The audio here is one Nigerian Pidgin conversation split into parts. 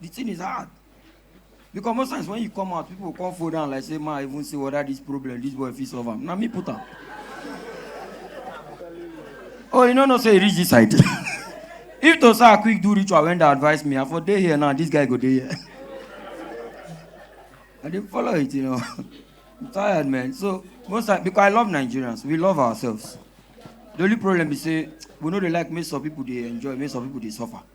the thing is hard because most times when you come out people come fall down like say ma i even say whether this problem this boy fit solve am na me put am oh you no know say e reach this side if to say i quick do ritual when dey advise me i for dey here now this guy go dey here i dey follow it you know i'm tired man so most times because i love nigerians we love ourselves the only problem be say we no dey like make some people dey enjoy make some people dey suffer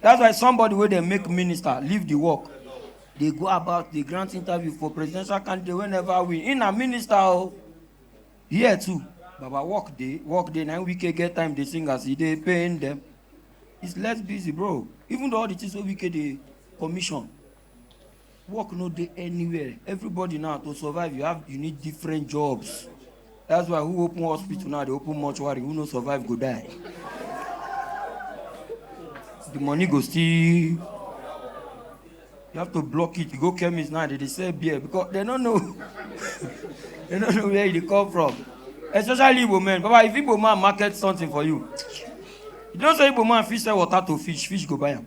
That's why somebody wey dey make minister leave the work dey go about dey grant interview for presidential candidate wey never win. He na minister o. Here too, Baba work dey, work dey. Na him Wike get time dey sing as he dey pain them. He's less busy bro. Even though all the things wey Wike dey commission, work no dey anywhere everybody now to survive you have you need different jobs that's why who open hospital now dey open mortuary who no survive go die the money go still you have to block it you go chemist now they dey sell beer because they no know they no know where e dey come from especially igbo men baba if igbo man market something for you you know say igbo man fit sell water to fish fish go buy am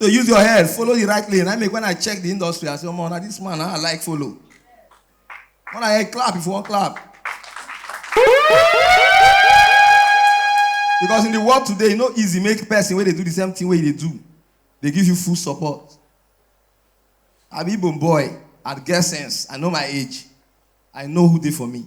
to use your head follow the right lane na make when i check the industry i say omo na this man na i like follow when i hear clap if you wan clap because in the world today e no easy make person wey dey do the same thing wey you dey do dey give you full support i be igbo boy i get sense i know my age i know who dey for me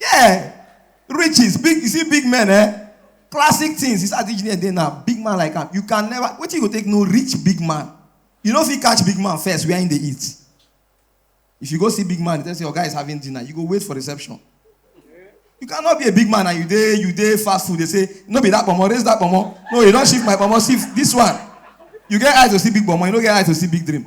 Yeah, riches, big, you see big men, eh? Classic things, it's as engineer dey now, big man like am. You can never, wetin you go take no rich big man? You no fit catch big man first where him dey eat. If you go see big man, you tell say your guy is having dinner, you go wait for reception. You cannot be a big man and you dey you dey fast food. They say no be that pomo, raise that pomo. No, you don shift my pomo, shift this one. You get eye to see big pomo, you no get eye to see big dream.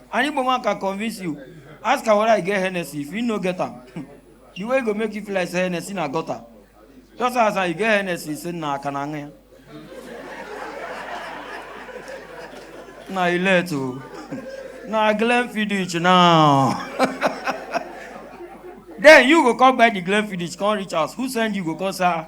An Igbo man can convince you. Ask am whether he get Hennessy. If he no get am, the way he go make you feel like say Hennessy na gutter. Just ask am, you get Hennessy? He say, na akanange. na you let o. na Glenfiddich now. then you go come buy the Glenfiddich, come reach house. Who send you go come say, ah,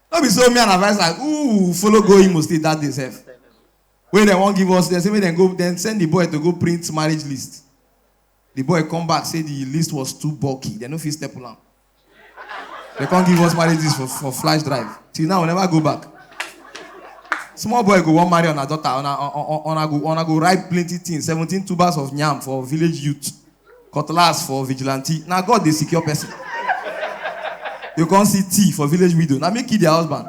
no be so me and advice like ooh follow go imo state that day sef wey dem wan give us dem say make dem go dem send the boy to go print marriage list the boy come back say the list was too bulky dem no fit staple am dem come give us marriage list for for flash drive till now we never go back small boy go wan marry una daughter una una go una go write plenty things seventeen tubers of yam for village youth cutlass for vigilante na god dey secure person you come see tea for village widow na me kill their husband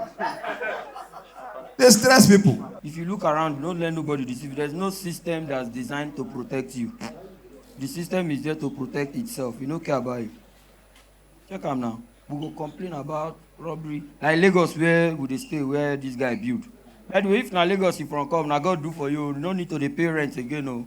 dey stress people If you look around, don't let nobody deceive you. There's no system that's designed to protect you. The system is there to protect itself. You don't care about it. Check am now. We go complain about robbery. Like Lagos where we dey stay, where this guy build. By the way, if na Lagos you from come, na God do for you. You no need to dey pay rent again o.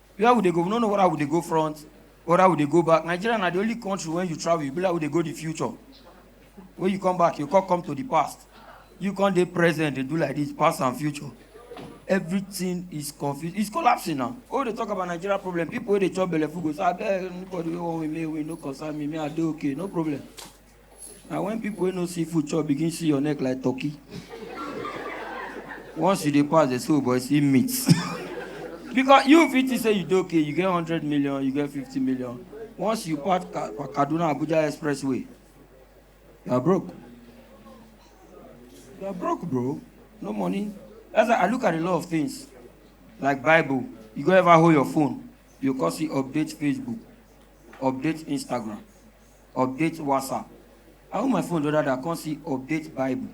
where we dey go we no know whether we dey go front whether we dey go back nigeria na the only country when you travel you be like we dey go the future when you come back you come come to the past you come dey present dey do like this past and future everything is confused it's collapsing now when we dey talk about nigeria problem people wey dey chop belleful go say abeg anybody wey wan win me win no concern me me i dey okay no problem na when people wey no see food chop begin see your neck like turkey once you dey pass dey say oh boy see meat because you fit think say you dey okay you get hundred million you get fifty million once you pass Ka- kaduna abuja expressway you are broke you are broke bro no money that's why i look at a lot of things like bible you go ever hold your phone you go come see update facebook update instagram update whatsapp i hold my phone the other day i come see update bible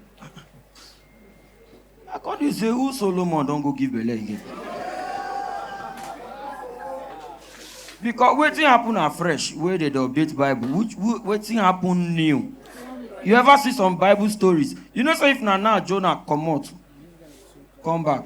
i come dey say who solomon don go give belle again because wetin happen na fresh wey dey dey update bible which wh- wetin happen new you ever see some bible stories you know say if na now jonah comot come back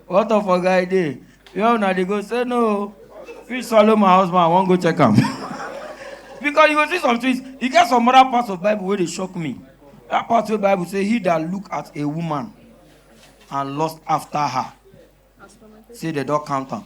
What of oga I dey? Where una dey go? Say no. Fish swallow my husband, I wan go check am. Because you go see some things, e get some other parts of Bible wey dey shock me. That part wey Bible say he that look at a woman and lust after her, say they don count am.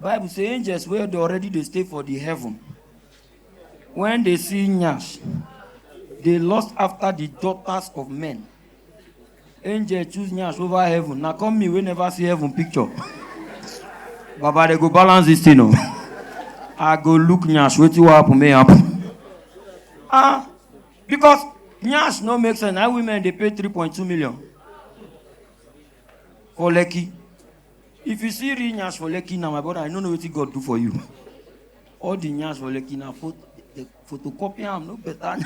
bible say angels wey dey already dey stay for the heaven when they see nyash they lust after the daughters of men angel choose nyash over heaven na come me wey never see heaven picture baba they go balance this thing o i go look nyash wetin wan happen may happen ah because nyash no make sense na women dey pay three point two million for lekki If you see real nyash for Lekki now, my brother, I no know wetin God do for you. All the nyash for Lekki na pho- the photocopy am no better.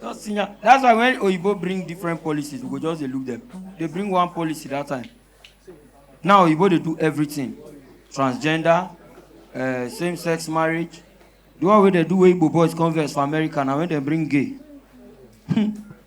Just see nya- That's why when Oyibo bring different policies, we go just dey look them. They bring one policy that time. Now Oyibo dey do everything. Transgender, uh, same-sex marriage. The one wey dey do wey Igbo boys converse for America na when dem bring gay.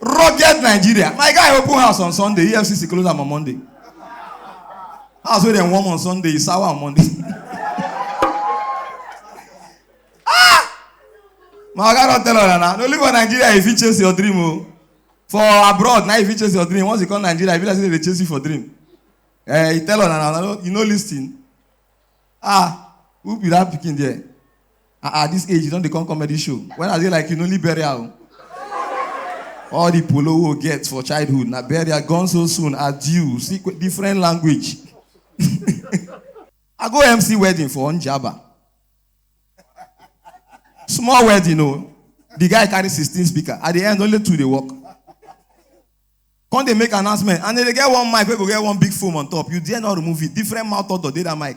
rugged nigeria my guy open house on sunday efcc close am on monday house wey dem warm on sunday e sour on monday ah my oga don tell una na no live for nigeria you fit chase your dream o oh. for abroad na you fit chase your dream once you come nigeria you be like say dem dey chase you for dream eh he tell una na you no lis ten ah who be that pikin there. ah ah this age you don dey come comedy show when i dey like you no need burial o all the polo wey we get for childhood na burial gone so soon adieu see qu- different language i go mc wedding for njaba small wedding o the guy carry sixteen speaker at the end only two dey work come dey make announcement and dem dey get one mic wey go get one big foam on top you dare not remove it different mouth odor dey that mic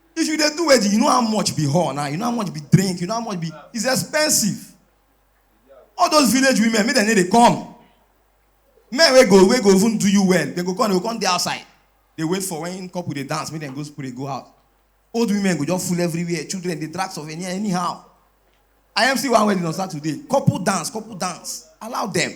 If you dey do wedding, you know how much be hall now, you know how much be drink, you know how much be it's expensive. All those village women, make dem no dey come. Men wey go wey go even do you well, dem go come, dem go come dey outside. Dey wait for when couple dey dance, make dem go spray go out. Old women go just full everywhere, children dey drag souvenir anyhow. I MC one wedding on Saturday, couple dance, couple dance, allow dem.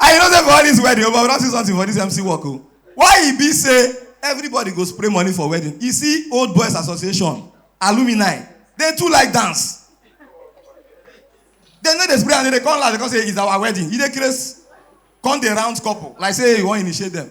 I know say for all this wedding, but we don see something for this MC work o. Why e be say everybody go spray money for wedding? You see old boys association, alumni, they too like dance. They no dey spray and they dey come laugh because say it's our wedding. E dey craze. Come dey round couple like say you wan initiate them.